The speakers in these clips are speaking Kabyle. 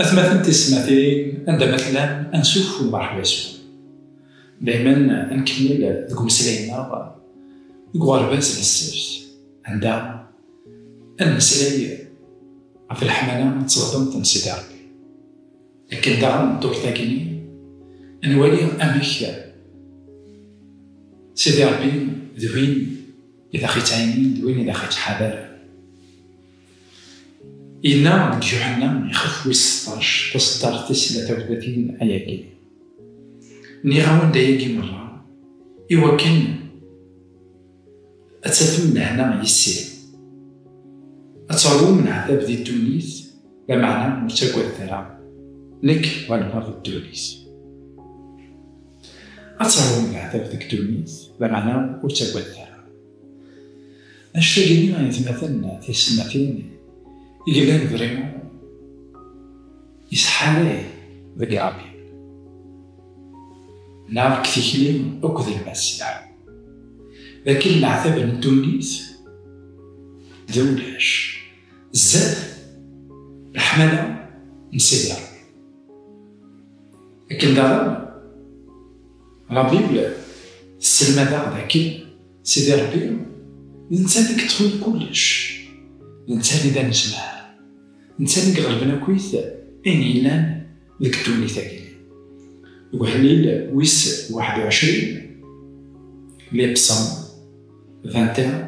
Atmaten tismatin anda ma tellam ansuf u mṛeḥba yes-wen. Daymen ad nkemmel deg umeslay-nneɣ deg uɣerbaz n ssebt anda ad nmeslay ɣef leḥmala d tɣdemt n Sidi Ṛebbi. Akken daɣen ddurt-agi-nni ad nwali amek Sidi Ṛebbi d win i d aɣ-ittɛinin d win i d aɣ-ittḥadaren. Yella deg Juḥenna ixef wis seṭṭac, taseṭṭart tis tla tawtatin ayagi. Nniɣ-awen-d ayagi merra i wakken ad tafem lehna yis-i, ad teṛwum leɛtab di ddunit, lameɛna ur ttagadet ara, nekk ɣelbeɣ di ddunit. Ad teṛwum leɛtab deg ddunit, lameɛna ur ttagadet ara. Acu-agi i yetmaten tiyessetmatin i yellan d Rimo yesḥalay deg Iṛabbi neɣ deg tikli akk d lmasiḥ, d akken leɛtab n ddunit d ulac zdat leḥmala n Sidi Ṛebbi. Akken daɣen. La Bible tesselmad-aɣ dakken Sidi Ṛebbi d netta i yeṭṭfen kullec, d netta i d anezmar, d netta i iɣelben akkit ayen yellan deg ddunit-agi. Deg uḥellil wis waḥed u ɛecrin, Les Psaumes, vingt et un,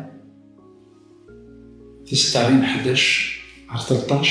tiseṭṭarin ḥdac ɣer telṭac,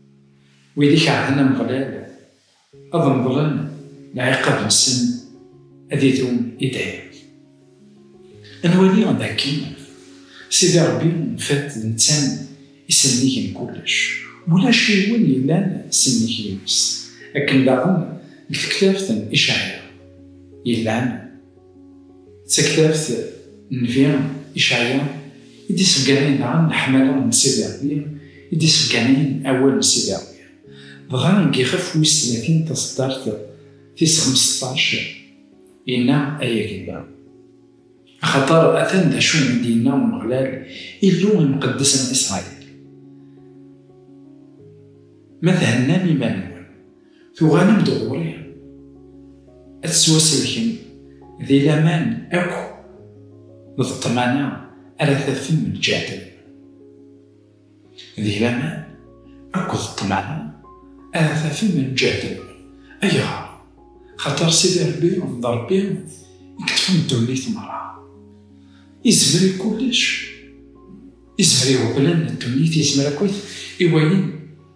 Wid i keṛhen Ameɣlal, ad meḍlen lɛiqab-nsen, ad idum i dayem. Ad nwali d akken Sidi Ṛebbi tiṭ d netta i sennig n kullec, ulac yiwen yellan sennig yis-s, akken daɣen deg tektabt n Icɛya yellan. D taktabt n Nnbi Icɛya i d-iṣegganayen daɣen leḥmala n Sidi Ṛebbi, i d-iṣegganayen awal n Sidi Ṛebbi. Dɣa deg yixef wis tlatin taṣeddart tis xemseṭṭac, yenna, Ay Agella! Axaṭer atan d acu i d-yenna Umeɣlal, Illu imqeddes n Isṛayil, Ma thennam iman-nwen, Tuɣalem-d ɣur-i ad tettwasellkem di laman akk d ṭṭmana ara tafem lǧehd-im. Di laman akk d ṭṭmana ara tafem lǧehd-im. Ayɣer? Xaṭer Sidi Rebbi d Rebbi i yeṭṭfen ddunit merra. Izmer i kullec, izmer i uɣbel-a n ddunit, izmer akkit i wayen.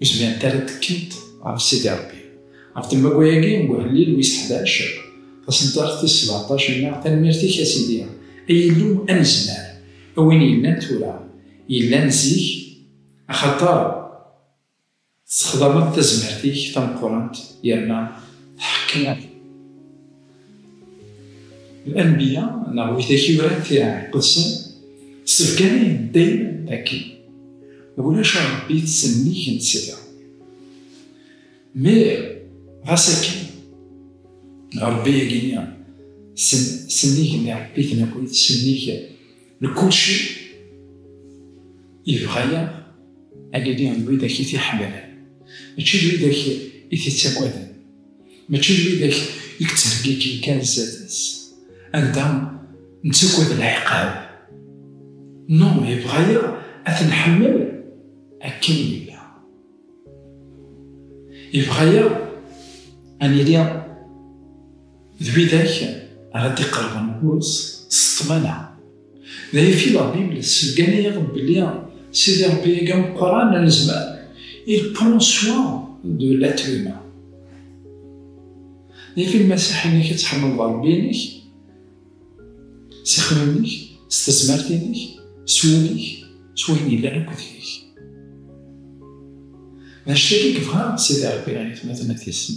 Ur zmirent ara ttekkint ɣef Sidi Rebbi. Ɣef tembagu-agi n uhellil wis ḥdac, taṣeddart tis sbeɛṭac, yenna, Tanemmirt-ik a Sidi, ay Illu anezmar, a win yellan tura, yellan zik, axaṭer tessexdameḍ tazmert-ik tameqqrant yerna tḥeqqi-aɣ-d. L-anbiya neɣ widak i yuran tiɛiqedsen ssebganen dayem akken ulac a Rebbi ttsennig n tsedda. Mir ɣas akken Rebbi agini sennig n iɛebbiten akked sennig n kulci yebɣa-yaɣ agini d widak i t-iḥemmlen mačči d widak i t-ittagaden. Mačči d widak i yettheggiǧen kan sdat-s, anda nettagad lɛiqab. No, yebɣa-yaɣ ad t-nḥemmel akken nella. Yebɣa-yaɣ ad nili d widak ara d-iqerben ɣur-s s ṭṭmana. D ay fi la Bible tseggan-iyi-ɣ belli Sidi Rebbi-agi ameqqran anezmar, il prend soin de l'être humain. D ay fi lmaṣaḥ-inek ad tḥemmleḍ Rebbi-inek s ixemmimen-ik, s tezmert-inek, s wul-ik, s wayen yellan akk deg-k. D anect-agi i yebɣa Sidi Rebbi i tmaten n At Yisem.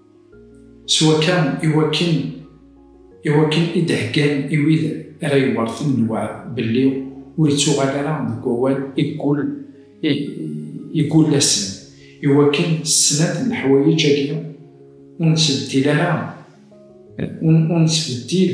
S wakka i wakken i wakken i d-heggan i wid ara yewwerten lewɛed belli ur ittuɣal ara deg wawal i yeggul i yeggul-asen, i wakken s snat n leḥwayeǧ agi ur nettbeddil ara ur nettbeddil.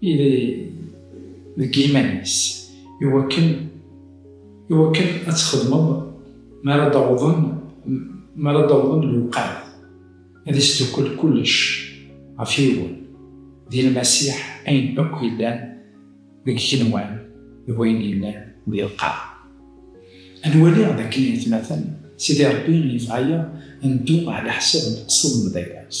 ili deg yiman-is iwakken iwakken ad txedmeḍ mi ara d-awḍen mi ara d-awḍen lewqat ad isdukkel kullec ɣef yiwen di lmasiḥ ayen akk yellan deg igenwan d wayen yellan di lqaɛ ad waliɣ d akken yetmaten sidi rebbi yebɣa-yaɣ ad neddu ɛla ḥsab leqsed n baba-s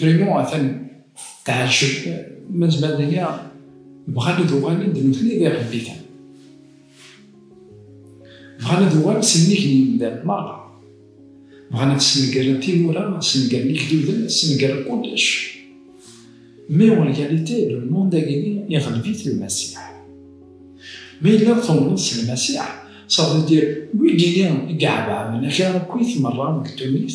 Vraiment, atan tɛejjeb, mazal daya bɣan ad uɣalen d nutni d iɣebbitan. Bɣan ad uɣalen s nnig n yimdanen merra. Bɣan ad snegren timura, snegren igduden, snegren kullec. Mais en réalité, le monde agini iɣleb-it Lmasiḥ. Ma yella tumneḍ s Lmasiḥ, ça veut dire wigini i iɛebɛben akal akkit merra deg ddunit,